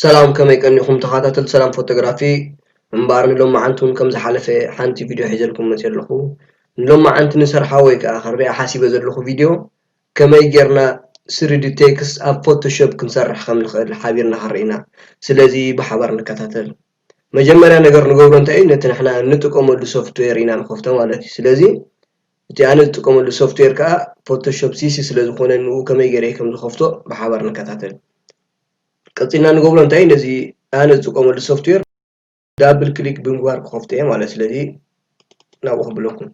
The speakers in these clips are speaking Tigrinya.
ሰላም ከመይ ቀኒኹም ተኻታተልቲ ሰላም ፎቶግራፊ እምበኣር ንሎማዓንቲ ውን ከም ዝሓለፈ ሓንቲ ቪድዮ ሒዘልኩም መጽየ ኣለኹ ንሎማዓንቲ ንሰርሓ ወይ ከኣ ክርእያ ሓሲበ ዘለኹ ቪድዮ ከመይ ጌርና ስሪዲ ቴክስት ኣብ ፎቶ ሾፕ ክንሰርሕ ከም ንኽእል ሓቢርና ክንርኢ ኢና ስለዚ ብሓባር ንከታተል መጀመርያ ነገር ንገብሮ እንታይ እዩ ነቲ ንሕና እንጥቀመሉ ሶፍትዌር ኢና ንኸፍቶ ማለት እዩ ስለዚ እቲ ኣነ ዝጥቀመሉ ሶፍትዌር ከኣ ፎቶ ሾፕ ሲሲ ስለ ዝኾነ ንኡ ከመይ ጌረ ከም ዝኸፍቶ ብሓባር ንከታተል። ቀጺልና ንገብሮ እንታይ እዩ ነዚ ኣነ ዝጥቀመሉ ሶፍትዌር ዳብል ክሊክ ብምግባር ክኸፍቶ እየ ማለት ስለዚ ናብኡ ክብለኩም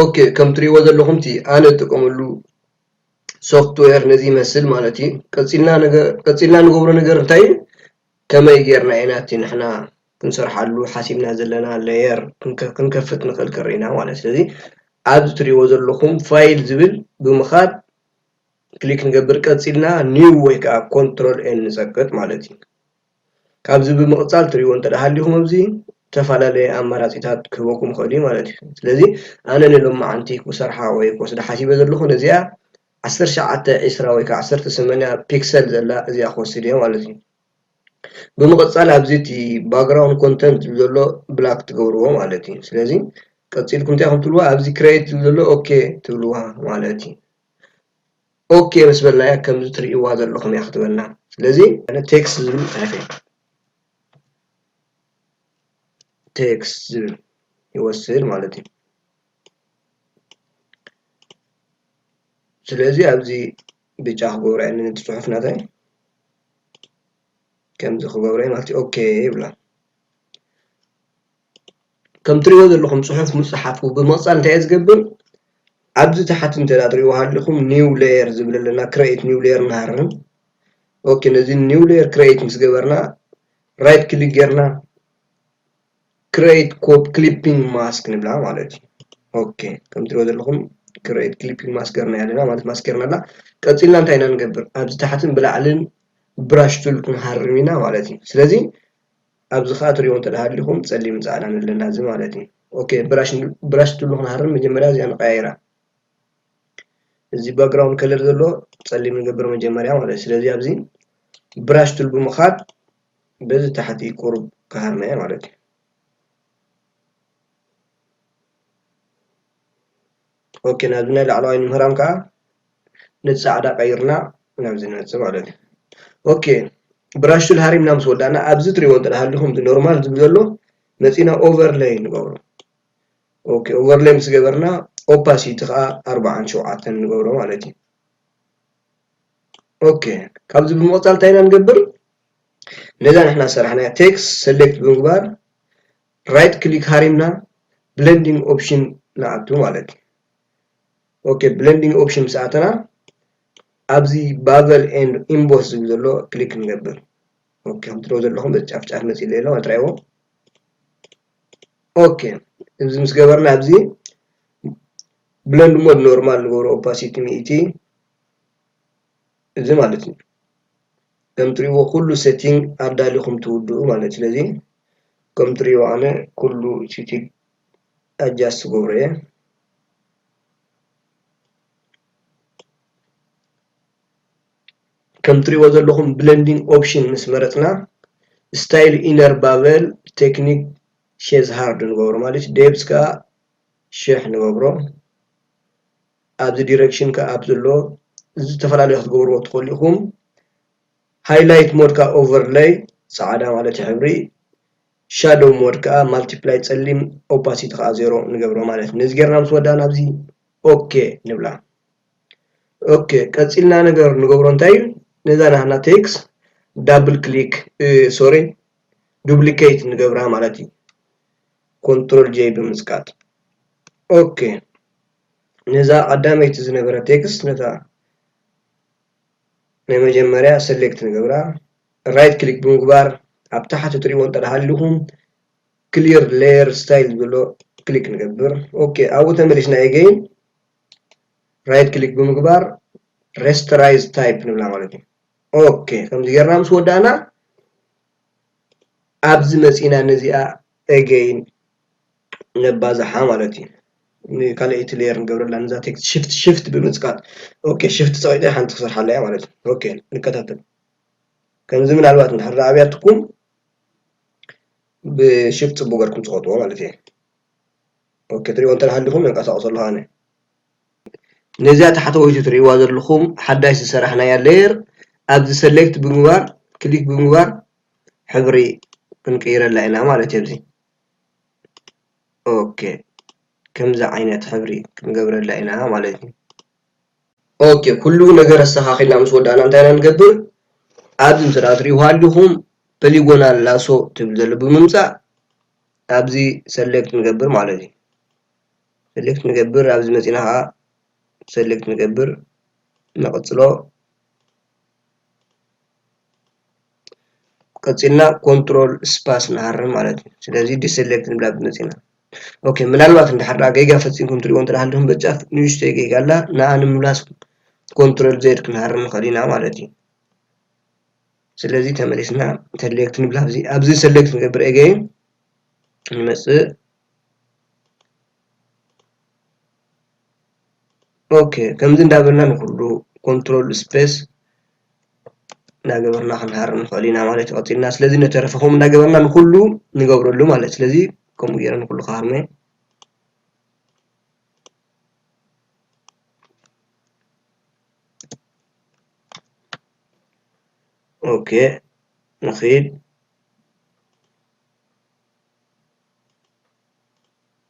ኦኬ ከም ትሪእዎ ዘለኹም እቲ ኣነ ዝጥቀመሉ ሶፍትዌር ነዚ ይመስል ማለት እዩ ቀፂልና ነገር ቀፂልና ንገብሮ ነገር እንታይ እዩ ከመይ ጌርና ኢና እቲ ንሕና ክንሰርሓሉ ሓሲብና ዘለና ለየር ክንከፍት ንኽእል ክሪ ኢና ማለት እዩ ስለዚ ኣብዚ ትሪእዎ ዘለኹም ፋይል ዝብል ብምኻድ ክሊክ ንገብር ቀፂልና ኒው ወይ ከዓ ኮንትሮል ኤን ንፀቅጥ ማለት እዩ ካብዚ ብምቕጻል ትሪእዎ እንተደሃሊኹም ኣብዚ ዝተፈላለየ ኣማራጺታት ክህበኩም ይኽእል እዩ ማለት እዩ። ስለዚ ኣነ ንሎማዓንቲ ኩሰርሓ ወይ ክወስዳ ሓሲበ ዘለኹ ነዚኣ ዓሰርተ ሸውዓተ ዕስራ ወይ ከኣ ዓሰርተ ሰማንያ ፒክሰል ዘላ እዚኣ ክወስድ እየ ማለት እዩ። ብምቕጻል ኣብዚ እቲ ባግራውንድ ኮንተንት ዝብል ዘሎ ብላክ ትገብርዎ ማለት እዩ። ስለዚ ቀጺልኩም እንታይ ክትብልዋ ኣብዚ ክሬት ዝብል ዘሎ ኦኬ ትብልዋ ማለት እዩ። ኦኬ ምስ በልናያ ከምዚ ትርእይዋ ዘለኹም እያ ክትበልና ስለዚ ኣነ ቴክስ ዝብል ጽሒፈ ቴክስ ዝብል ይወስድ ማለት እዩ ስለዚ ኣብዚ ብጫ ክገብሮ እየ ነቲ ፅሑፍ ናተይ ከምዚ ክገብሮ እየ ማለት እዩ ኦኬ ይብላ ከም ትሪእዎ ዘለኹም ፅሑፍ ምፅሓፉ ብምቕፃል እንታይ እዩ ዝገብር ኣብዚ ታሕቲ እንተ ትሪእዎ ሃሊኹም ኒው ለየር ዝብል ኣሎ እና ክረኤት ኒው ለየር ንሃርም ኦኬ ነዚ ኒው ለየር ክረኤት ምስ ገበርና ራይት ክሊክ ጌርና ክረኤት ኮብ ክሊፒንግ ማስክ ንብላ ማለት እዩ ኦኬ ከም ትሪእዎ ዘለኹም ክረኤት ክሊፒንግ ማስክ ገርና ኣለና ማለት ማስክ ገርና ኣላ ቀፂልና እንታይ ኢና ንገብር ኣብዚ ታሕትን ብላዕልን ብራሽ ቱል ክንሃርም ኢና ማለት እዩ ስለዚ ኣብዚ ከኣ ትሪእዎ እንተሃሊኹም ጸሊምን ጻዕዳን ኣለና እዚ ማለት እዩ ኦኬ ብራሽ ትብሉ ክንሃርም መጀመርያ እዚኣ ንቀያይራ እዚ ባክግራውንድ ከለር ዘሎ ጸሊም ንገብር መጀመርያ ማለት ስለዚ ኣብዚ ብራሽ ትል ብምኻድ በዚ ታሕቲ ቁሩብ ክሃርመ እየ ማለት እዩ ኦኬ ናብዚ ናይ ላዕለዋይ ንምህራም ከዓ ነቲ ፃዕዳ ቀይርና ናብዚ ንመፅእ ማለት እዩ ኦኬ ብራሽ ቱል ሃሪምና ምስ ወዳእና ኣብዚ ትሪእዎ እንተሃለኹም ኖርማል ዝብል ዘሎ መፂና ኦቨርለይ ንገብሮ ኦኬ ኦቨርለይ ምስ ገበርና ኦፓሲቲ ከዓ ኣርባዓን ሸውዓተን ንገብሮ ማለት እዩ ኦኬ ካብዚ ብምቕፃል እንታይ ኢና ንገብር ነዛ ንሕና ሰራሕናያ ቴክስ ሰሌክት ብምግባር ራይት ክሊክ ሃሪምና ብለንዲንግ ኦፕሽን ንኣቱ ማለት እዩ ኦኬ ብለንዲንግ ኦፕሽን ምስ ኣተና ኣብዚ ባቨል ኤንድ ኢምቦስ ዝብል ዘሎ ክሊክ ንገብር ኦኬ ከም ትሪኦ ዘለኹም በዚ ጫፍ ጫፍ መፂ ኣለዎ ኣትራይዎ ኦኬ እዚ ምስ ገበርና ኣብዚ ብለንድ ሞድ ኖርማል ንገብሮ ኦፓሲቲ ሚእቲ እዚ ማለት እዩ ከም ትሪእዎ ኩሉ ሰቲንግ ኣዳሊኹም ትውድኡ ማለት እዩ። ስለዚ ከም ትሪእዎ ኣነ ኩሉ ሲቲግ ኣጃስት ክገብሮ እየ። ከም ትሪእዎ ዘለኹም ብለንዲንግ ኦፕሽን ምስ መረጽና ስታይል ኢነር ባበል ቴክኒክ ሼዝ ሃርድ ንገብሮ ማለት እዩ። ዴፕዝ ከኣ ሽሕ ንገብሮ። ኣብዚ ዲረክሽን ከኣ ኣብ ዘሎ ዝተፈላለየ ክትገብርዎ ትክእሉ ኢኩም ሃይላይት ሞድ ከኣ ኦቨርለይ ጻዕዳ ማለት እዩ ሕብሪ ሻዶው ሞድ ከኣ ማልቲፕላይ ጸሊም ኦፓሲቲ ከኣ ዜሮ ንገብሮ ማለት እዩ ነዚ ጌርና ምስ ወዳእና ኣብዚ ኦኬ ንብላ ኦኬ ቀጺልና ነገር ንገብሮ እንታይ እዩ ነዛ ናህና ቴክስ ዳብል ክሊክ ሶሪ ዱፕሊኬት ንገብራ ማለት እዩ ኮንትሮል ጄይ ብምጽቃጥ ኦኬ ነዛ ቀዳመይቲ ዝነበረት ቴክስት ነታ ናይ መጀመርያ ሰሌክት ንገብራ ራይት ክሊክ ብምግባር ኣብ ታሕቲ እትሪእዎ እንተደሃሊኹም ክሊር ሌየር ስታይል ዝብሎ ክሊክ ንገብር ኦኬ ኣብኡ ተመሊስና ኤገይን ራይት ክሊክ ብምግባር ሬስተራይዝ ታይፕ ንብላ ማለት እዩ ኦኬ ከምዚ ጌርና ምስ ወዳእና ኣብዚ መፂና ነዚኣ ኤገይን ነባዝሓ ማለት እዩ። ንካልኣይቲ ሌየር ንገብረላ ነዛ ቴክስት ሽፍት ሽፍት ብምፅቃጥ ኦኬ ሽፍት ፀቂጠ ሓንቲ ክሰርሓ ኣለያ ማለት እዩ። ኦኬ ንከታተል ከምዚ ምናልባት እንድሕር ኣብያትኩም ብሽፍት ፅቡቅ ገርኩም ፅቆጥዎ ማለት እየ። ኦኬ ትሪእዎ እንተሃሊኹም የንቀሳቅሶ ኣለኹ ኣነ ነዚኣ ታሕተወይቲ ትሪእዋ ዘለኹም ሓዳሽ ዝሰራሕናያ ሌየር ኣብዚ ሰሌክት ብምግባር ክሊክ ብምግባር ሕብሪ ክንቅይረላ ኢና ማለት እየ። ኦኬ ከምዚ ዓይነት ሕብሪ ክንገብረላ ኢና ማለት እዩ ኦኬ ኩሉ ነገር ኣስተኻኺልና ምስ ወዳእና እንታይ ኢና ንገብር ኣብዚ እንተ ትሪእዎ ኣለኹም ፖሊጎናል ላሶ ትብል ዘሎ ብምምፃእ ኣብዚ ሰሌክት ንገብር ማለት እዩ ሰሌክት ንገብር ኣብዚ መፂእና ኸዓ ሰሌክት ንገብር ንቕፅሎ ቀፂልና ኮንትሮል ስፓስ ንሃርም ማለት እዩ ስለዚ ዲሰሌክት ንብላ ብመፂ ኢና ኦኬ ምናልባት እንድሕር ደኣ ጌጋ ፈፂምኩም ትሪእዎ እንተሃልኹም በጫፍ ንእሽተይ ጌጋ ኣላ ንኣ ንምምላስ ኮንትሮል ዜድ ክንሃርም ንኽእል ኢና ማለት እዩ ስለዚ ተመሊስና ሰሌክት ንብላ ኣብዚ ኣብዚ ሰሌክት ንገብር ኤገይን ንመፅእ ኦኬ ከምዚ እንዳበልና ንኹሉ ኮንትሮል ስፔስ እናገበርና ክንሃርም ንኽእል ኢና ማለት እዩ ቀፂልና ስለዚ ነተረፈ ከምኡ እናገበርና ንኹሉ ንገብረሉ ማለት እዩ ስለዚ ከምኡ ገይረ ንኹሉ ክሃርሞ እየ ኦኬ ንኺድ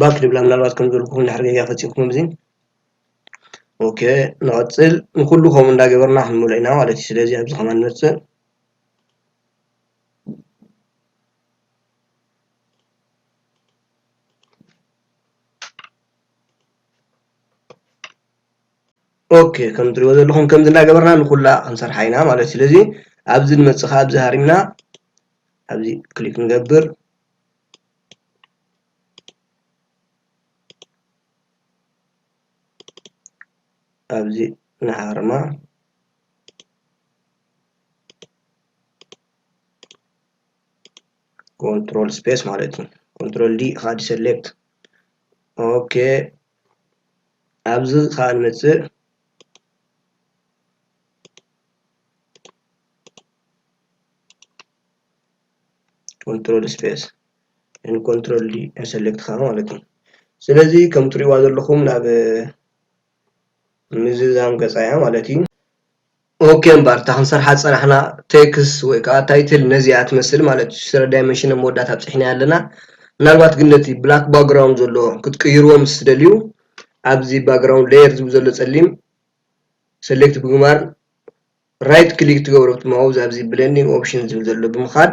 ባክ ድብላ ምናልባት ከም ዘልኩም ድሕሪ ገጋ ፈፂምኩም እዚ ኦኬ ንቐፅል ንኩሉ ከምኡ እንዳገበርና ክንምልኦ ኢና ማለት እዩ ስለዚ ኣብዚ ከማን ንመፅእ ኦኬ ከም ትሪእዎ ዘለኹም ከምዚ እናገበርና ንኩላ ክንሰርሓ ኢና ማለት ስለዚ ኣብዚ ንመፅእ ከዓ ኣብዚ ሃሪምና ኣብዚ ክሊክ ንገብር ኣብዚ ንሃርማ ኮንትሮል ስፔስ ማለት እዩ ኮንትሮል ዲ ካድ ሰሌክት ኦኬ ኣብዚ ከዓ ንመፅእ ኮንትሮል ስፔስ ን ኮንትሮል ዲ ሰሌክት ከዓ ማለት እዩ ስለዚ ከም ትሪእዋ ዘለኹም ናብ ምዝዛም ገጻ እያ ማለት እዩ። ኦኬ እምበር እታ ክንሰርሓ ዝጸናሕና ቴክስ ወይ ከኣ ታይትል ነዚኣ ትመስል ማለት እዩ። ስረ ዳይመንሽን ኣብ መወዳእታ ኣብጺሕናያ ኣለና። ምናልባት ግን ነቲ ብላክ ባክግራውንድ ዘሎ ክትቅይርዎ ምስ ትደልዩ ኣብዚ ባክግራውንድ ሌየር ዝብል ዘሎ ጸሊም ሰሌክት ብምግባር ራይት ክሊክ ትገብሩ ኣብቲ ማውዝ ኣብዚ ብሌንዲንግ ኦፕሽን ዝብል ዘሎ ብምኻድ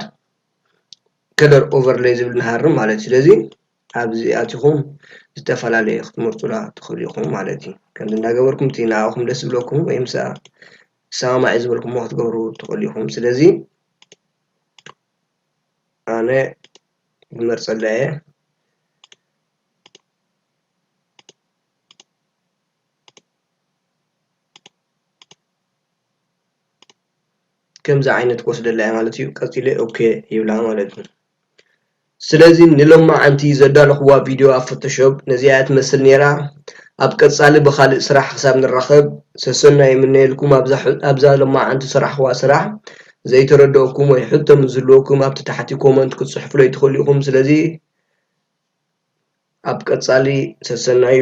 ከለር ኦቨርለይ ዝብል ንሃርም ማለት እዩ። ስለዚ ኣብዚ ኣቲኹም ዝተፈላለየ ክትመርጹላ ትኽእሉ ኢኹም ማለት እዩ። ከምዚ እንዳገበርኩም እቲ ንዓኹም ደስ ዝብለኩም ወይ ምሳኣ ዝሰማማዕ እዩ ዝበልኩሞ ክትገብሩ ትኽእሉ ኢኹም። ስለዚ ኣነ ዝመርጸላ እየ። ከምዚ ዓይነት ክወስደላ እየ ማለት እዩ። ቀጺለ ኦኬ ይብላ ማለት እዩ። ስለዚ ንሎማዓንቲ ዘዳለኹዋ ቪድዮ ኣብ ፎቶሾፕ ነዚኣ ትመስል ኔራ ኣብ ቀጻሊ ብኻልእ ስራሕ ክሳብ ንራኸብ ሰሰናዩ ይምነየልኩም ኣብዛ ሎማዓንቲ ዝሰራሕኹዋ ስራሕ ዘይተረደኣኩም ወይ ሕቶ ምስ ዝህልወኩም ኣብቲ ታሕቲ ኮመንት ክትጽሕፉለይ ትኽእሉ ኢኹም ስለዚ ኣብ ቀጻሊ ሰሰናዩ።